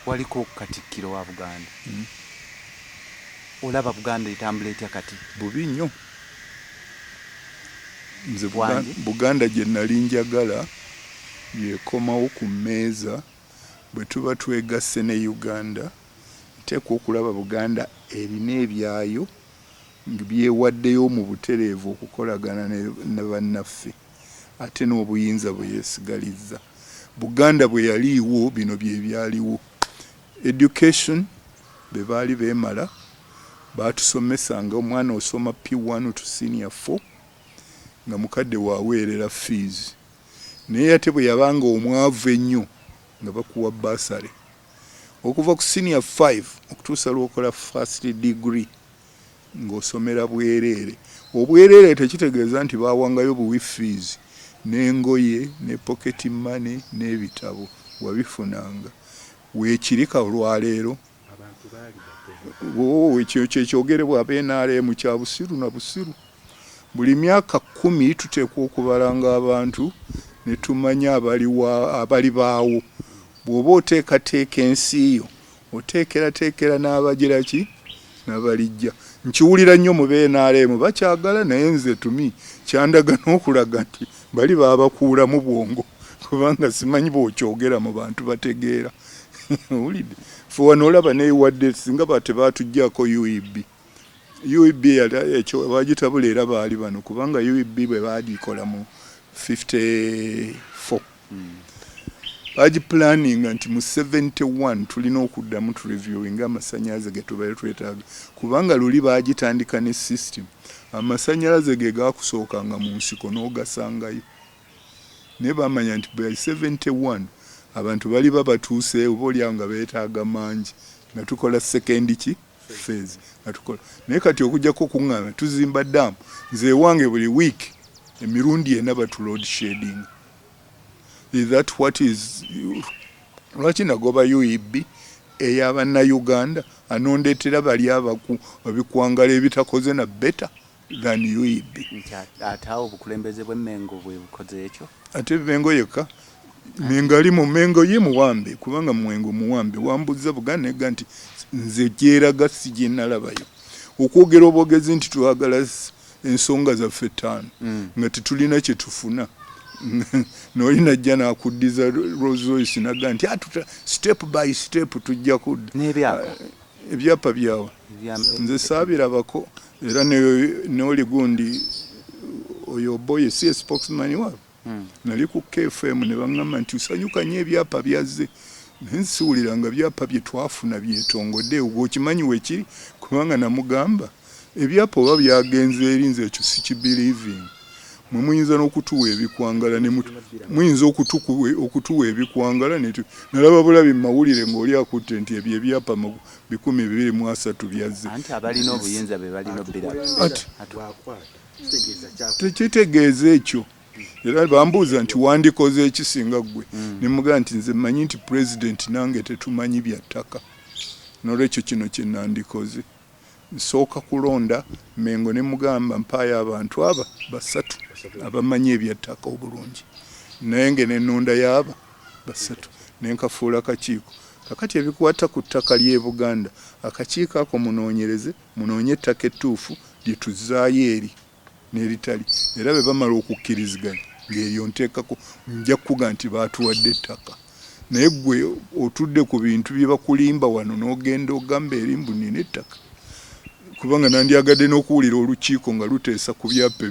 Waliko katikkiro wa Buganda. Mm. Olaba Buganda etambula etya kati? Bubi nnyo. Nze Buganda gye nali njagala yekomawo ku mmeeza bwe tuba twegasse ne Uganda nteekwa okulaba Buganda erina ebyayo byewaddeyo mu butereevu okukolagana ne bannaffe. Ate n'obuyinza bwe yeesigalizza. Buganda bwe yaliiwo bino bye byaliwo. Education be baali beemala, baatusomesa nga omwana osoma P one to senior four nga mukadde wo aweerera fees. Naye ate bwe yabanga omwavu ennyo nga bakuwa bursary. Okuva ku senior five okutuusa lw'okola first degree. ng'osomera bwereere. Obwereere tekitegeeza nti baawangayo buwi ffiizi, n'engoye, ne poketi mmane, n'ebitabo. Wabifunanga. Weekiri ka olwaleero. Ooh, ekyo kye kyogerebwa aba nrm. Kya busiru na busiru. Buli myaka kkumi tuteekwa okubalanga abantu ne tumanya abali wa, abali baawo. Bw'oba oteekateeka ensi yo, Oteekerateekera n'abagira ki? N'abalijja. Nkiwulira nnyo mu bnrm bakyagala naye nze to me kyandaga n'okulaga nti bali baabakuulamu bwongo kubanga simanyi bw'okyogera mu bantu bategeera. Owulidde? Ffe wano olaba newadde singa ba tebaatugyako UEB. UEB ekyo bagitabula era baali bano kubanga UEB bwe baagikola mu 54 baagipulaninga nti mu 71 tulina okuddamu tureviewinga amasannyalaze ge tubeere twetaaga kubanga luli baagitandika ne system amasannyalaze ge gaakusookanga mu nsiko n'ogasangayo naye baamanya nti by 71 abantu baliba batuuseewo oba olyawo nga beetaaga mangi nga tukola sekendi ki fezi atukola naye kati okujjako okuŋŋaana tuzimba daamu nze ewange buli wiiki emirundi ena batu load shading is that what is lwaki nagoba ueb eyabannayuganda anondetera bali abaku babikwangala ebitakoze na beta than UEB. Nti ate awo obukulembeze bwe Mengo bwe bukoze ekyo? Ate Mengo yekka? Mengo ali mu Mengo ye muwambe kubanga Mwengo muwambe wambuzza buganega nti nze gyeraga si gye nalabayo okwogera obwogezi nti twagala ensonga zaffe ttaano mm. nga tetulina kye tufuna noli najja nakuddiza Rolls Royce naga nti atuta step by step tujja kudda ebyapa byawa nze saabirabako era noli gundi oyo boy si spokesman wa hmm. nali ku KFM ne bangamba nti usanyuka nyo ebyapa byazze nsiwulira nga byapa bye twafuna byetongode ogwo okimanyi wekiri kubanga namugamba ebyapa oba byagenze eri nze ekyo sikibelieving mwe muyinza n'okutuwa ebikwangala muyinza okutuwa ebikwangala nalaba bulabi mumawulire ngaoli akutte nti ebyo ebyapa bikumi bibiri mu asatu byazze. Anti abalina obuyinza be balina obiraba. Tekitegeeza ekyo era bambuuza nti wandikoze ekisinga ggwe hmm. ne mugamba nti nze mmanyi nti pulezidenti nange tetumanyi bya ttaka n'olwekyo kino kye nandikoze nsooka kulonda mengo ne mugamba mpaayo abantu aba basatu abamanyi ebya ttaka obulungi naye nge nenonda yaaba basatu nenkafuula kakiiko Kakati ebikwata ku ttaka ly'e Buganda, akakiiko ako munoonyereze, munoonye ettaka ettuufu lye tuzzaayo eri n'eritali era bwe bamala okukkiriziganya ng'eryo nteekako nja kukuga nti baatuwadde ettaka. Naye ggwe otudde ku bintu bye bakulimba wano n'ogenda ogamba eri mbu nnina ettaka. kubanga nandyagadde n'okuwulira olukiiko nga luteesa ku byapa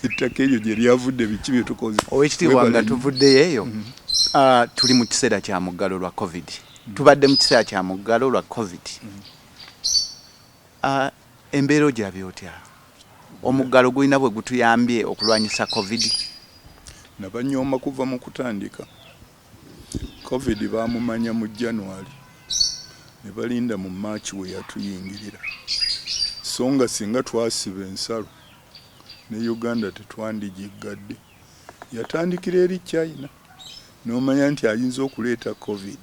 ettaka eryo gye lyavudde biki bye tukoze. Owekitiibwa nga tuvuddeyo eyo, mm-hmm. ah, tuli mu kiseera kya muggalo lwa covid, mm-hmm. tubadde mu kiseera kya muggalo lwa covid. Mm-hmm. Ah, embeera ogirabye otya? Omuggalo gulina bwe gutuyambye okulwanyisa covid? Nabanyooma kuva mu kutandika. Covid baamumanya mu January ne balinda mu March we yatuyingirira so nga singa twasiba ensalo ne Uganda tetwandigiggadde. Yatandikira eri China n'omanya nti ayinza okuleeta Covid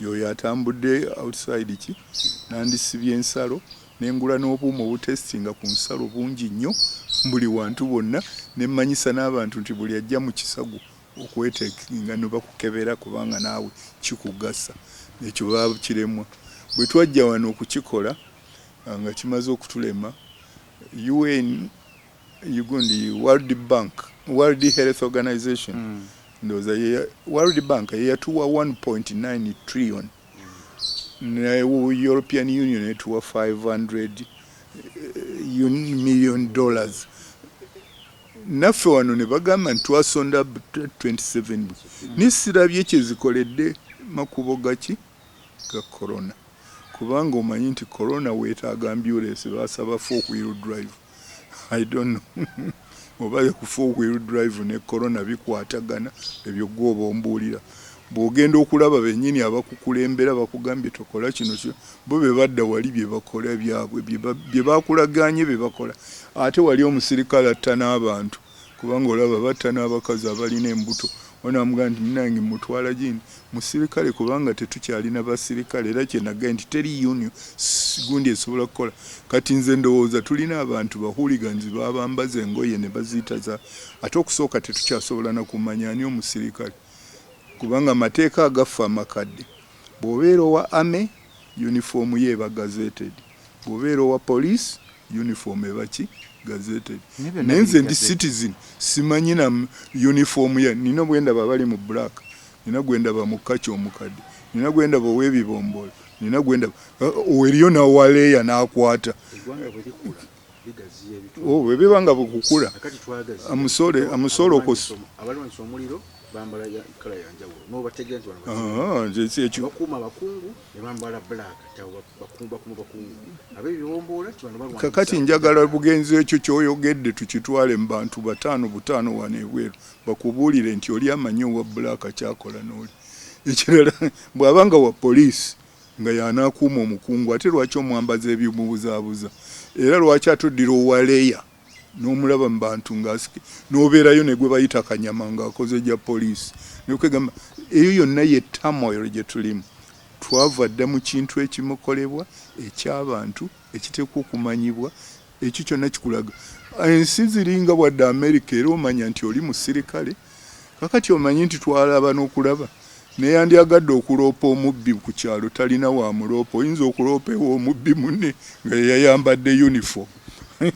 y'oyo atambudde outside ki nandisibye ensalo ne ngula n'obuuma obutesitinga ku nsalo bungi nnyo buli wantu bwonna ne mmanyisa n'abantu nti buli ajja mu kisago okwetekinga nebakukebera kubanga naawe kikugasa ekyo bakiremwa bwetwajja wano okukikola nga kimaze okutulema UN ugundi world bank world health organization mm. ndoza world bank yeyatuwa 1.9 trillion ne european union etuwa 500 eh, million dollars naffe wano ne bagamba nti twasonda 27 bwe naye sirabye kye zikoledde makubo gaki ga corona kubanga omanyi nti corona weetaaga ambyulensi baasaba four wheel drive i don't know oba ku four wheel drive ne corona bikwatagana ebyo gwe oba ombuulira Bw'ogenda okulaba bennyini abakukulembera bakugambye tokola kino kyo, bo be badda wali bye bakola byabwe bye bakulagaanye bye bakola. Ate wali omusirikale atta n'abantu kubanga olaba batta n'abakazi abalina embuto, onamugamba nti munnange mmutwala gindi musirikale kubanga tetukyalina basirikale era kye nagaye nti teri union gundi esobola kukola. Kati nze ndowooza tulina abantu ba hooligans babambaza engoye ne baziyita za ate okusooka tetukyasobola na kumanya ani omusirikale. kubanga amateeka agaffe amakadde bwobeera owa army uniform yo eba gazeted bwobeera owa police uniform eba ki gazeted naye nze ndi citizen simanyi na uniform ya nina bwendaba abali mu black nina gwendaba mu kaci omukadde nina gwendaba owebibombola nina gwendaba uh, uh, eriyo nawaleeya nakwata oh, bwe biba nga bukukula amusole amusole okosa kakati njagala bugenzi ekyo kyoyogedde tukitwale mu bantu bataano butaano wano ebweru bakubuulire nti oli amanyi owa bulaaka kyakola nooli ekirala bwaba nga wa poliisi nga y'anaakuuma omukungu ate lwaki omwambaza eby'omubuzaabuza era lwaki ate oddira owa leeya n'omulaba mu bantu ng'asike n'obeerayo ne gwe bayita kanyama ng'akoze gya poliisi ne kwegamba eyo yonna ye turmoil gye tulimu twava dda mu kintu ekimukolebwa eky'abantu ekiteekwa okumanyibwa Ekyo kyonna kikulaga ensi ziringa wadde Amerika era omanya nti oli musirikale kakati omanyi nti twalaba n'okulaba neyandyagadde okuloopa omubbi ku kyalo talina wa muloopa oyinza okuloopa ewa omubbi munne nga yeyayambadde uniform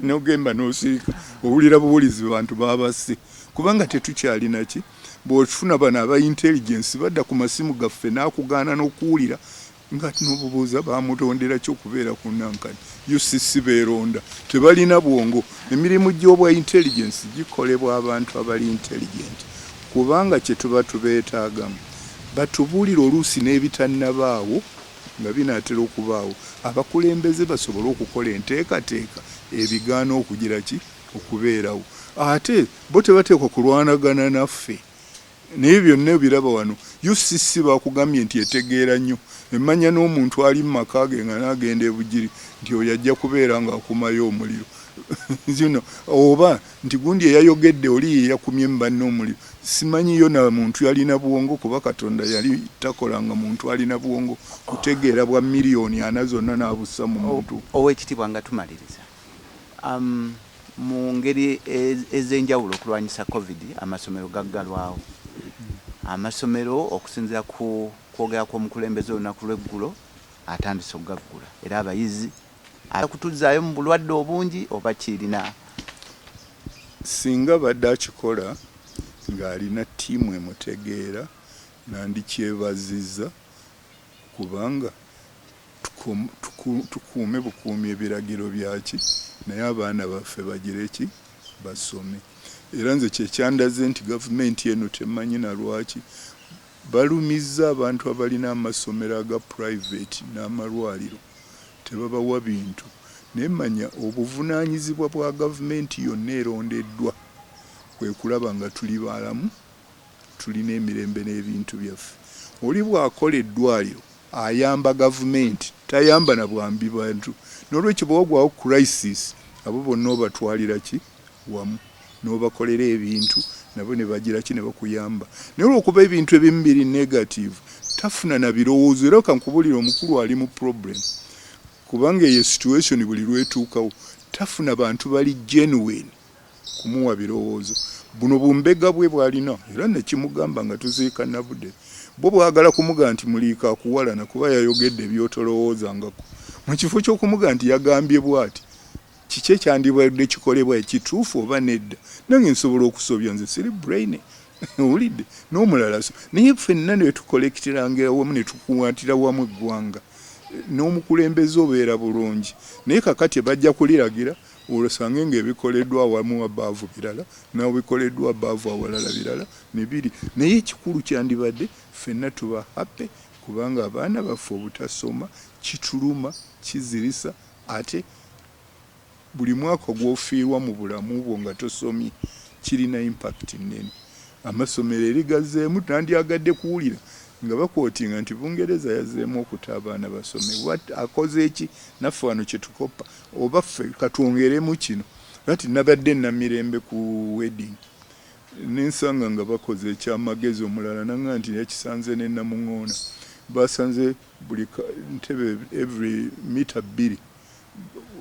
nogemba nosirika owulira buwulizi bantu babasse kubanga tetukyalina ki bwokifuna bano aba intelligence badda ku masimu gaffe n'akugaana n'okuwulira Ngate nobubuuza bamutondera ki okubeera ku nankani? UCC beronda tebalina bwongo. Emirimu gyobwa intelligence gikolebwa abantu abali intelligent kubanga kyetuba tubetaagamu batubuulire oluusi n'ebitanabaawo nga binatera okubaawo abakulembeze basobole okukola enteekateeka ebigaana okugira ki? okubeerawo. Ate bo tebateekwa kulwanagana naffe. Naye byonna obiraba wano. UCC bakugambye nti etegeera nnyo, emanya n'omuntu ali mu maka ge nga n'agenda e Bugiri nti oyo ajja kubeera ng'akumayo omuliro zino oba nti gundi eyayogedde oli ye yakumye mu banne omuliro. Simanyi yona muntu yalina bwongo kuba Katonda yali takolanga muntu alina bwongo kutegeera bwa miliyoni ana zonna n'abussa mu muntu. Ow'ekitibwa nga tumaliriza. Mu ngeri ez'enjawulo okulwanyisa Covid amasomero gaggalwawo. Amasomero okusinzira ku kwogera kw'omukulembeze olunaku lw'eggulo atandise okugaggula era abayizi akutuzaayo mu bulwadde obungi oba kirina singa badde akikola ng'alina ttiimu emutegeera nandikyebaziza kubanga tukuume bukuumi ebiragiro byaki naye abaana baffe bagire ki? Basome era nze kye kyandaze nti gavumenti eno temanyi na lwaki balumizza abantu abalina amasomero aga purayiveti n'amalwaliro tebabawa bintu naye manya obuvunaanyizibwa bwa gavumenti yonna erondeddwa kwe kulaba nga tuli balamu Tulina emirembe n'ebintu byaffe. Oli bw'akola eddwaliro ayamba gavumenti, tayamba na bwambi bantu. N'olwekyo bwe wagwawo crisis abo bonna obatwalira ki wamu n'obakolera ebintu nabo ne bagira ki ne bakuyamba. Naye olw'okuba ebintu ebimu biri negative tafuna na birowoozo era ka nkubuulire omukulu ali mu problem kubanga eyo situation buli lw'etuukawo tafuna bantu bali genuine. kumuwa birowoozo buno bumbega bwe bwalina era nekimugamba nga tuziika nabude bwo bwagala kumuga nti muliika akuwalana kuba yayogedde ebyotolowoozangako mu kifo ky'okumuga nti yagambye bwati kiki ekyandibadde kikolebwa ekituufu oba nedda nange nsobola okusobya nze siri brain owulidde n'omulala so naye ffenna netukolekitirangira wamu netukuwatira wamu eggwanga n'omukulembeze obeera bulungi naye kakati bajja kuliragira Olosange nga ebikoleddwa awamu above birala nawe bikoleddwa above awalala birala ne biri naye ekikulu kyandibadde ffenna tuba happy kubanga abaana baffe obutasoma kituluma, kizirisa ate buli mwaka gwofiirwa mu bulamu bwo nga tosomye kirina impact nnene. Amasomero eri gazzeemu tandyagadde kuwulira nga bakwotinga nti Bungereza yazzeemu okuta abaana basome. What? Akoze ki? Naffe wano kye tukoppa oba ffe katwongeremu kino nati nabadde namirembe ku wedding nensanga nga bakoze ekyamagezi omulala nanga nti yakisanze nenamuŋoona basanze buli ntebe every mita bbiri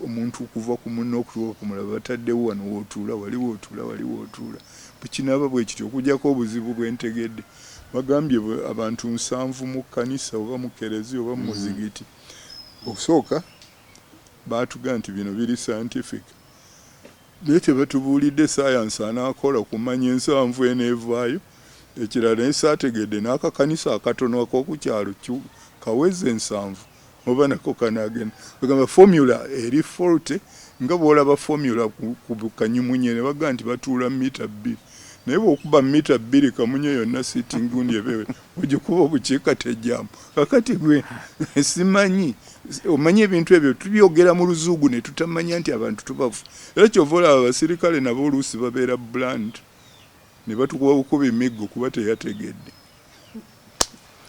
omuntu okuva ku munne okutuuka ku mulala bataddewo wano wootuula wali wootuula wali wootuula bwekinaaba bwekiti okujjako obuzibu bwentegedde bagambye abantu nsanvu mu kkanisa oba mu kerezi oba mu muzigiti okusooka Baatugamba nti bino biri scientific naye tebatubuulidde science anaakola kumanya ensanvu eneevaayo. Ekirala ne saategedde n'akakanisa akatono ak'oku kyalo kawezze ensanvu oba nako kanaagenda. Bagamba formula eri faulty nga bw'olaba formula ku kanyimunye ne bagamba nti batuula mita bbiri naye bw'okuba mita bbiri kamunye yonna sitting gundi eba ogikuba obukiika tejjamu kakati gwe simanyi omanyi ebintu ebyo tubyogera mu luzuugu ne tutamanya nti abantu tubafu era kyova olaba abasirikale nabo oluusi babeera bland ne batukuba bukuba emiggo kuba teyategedde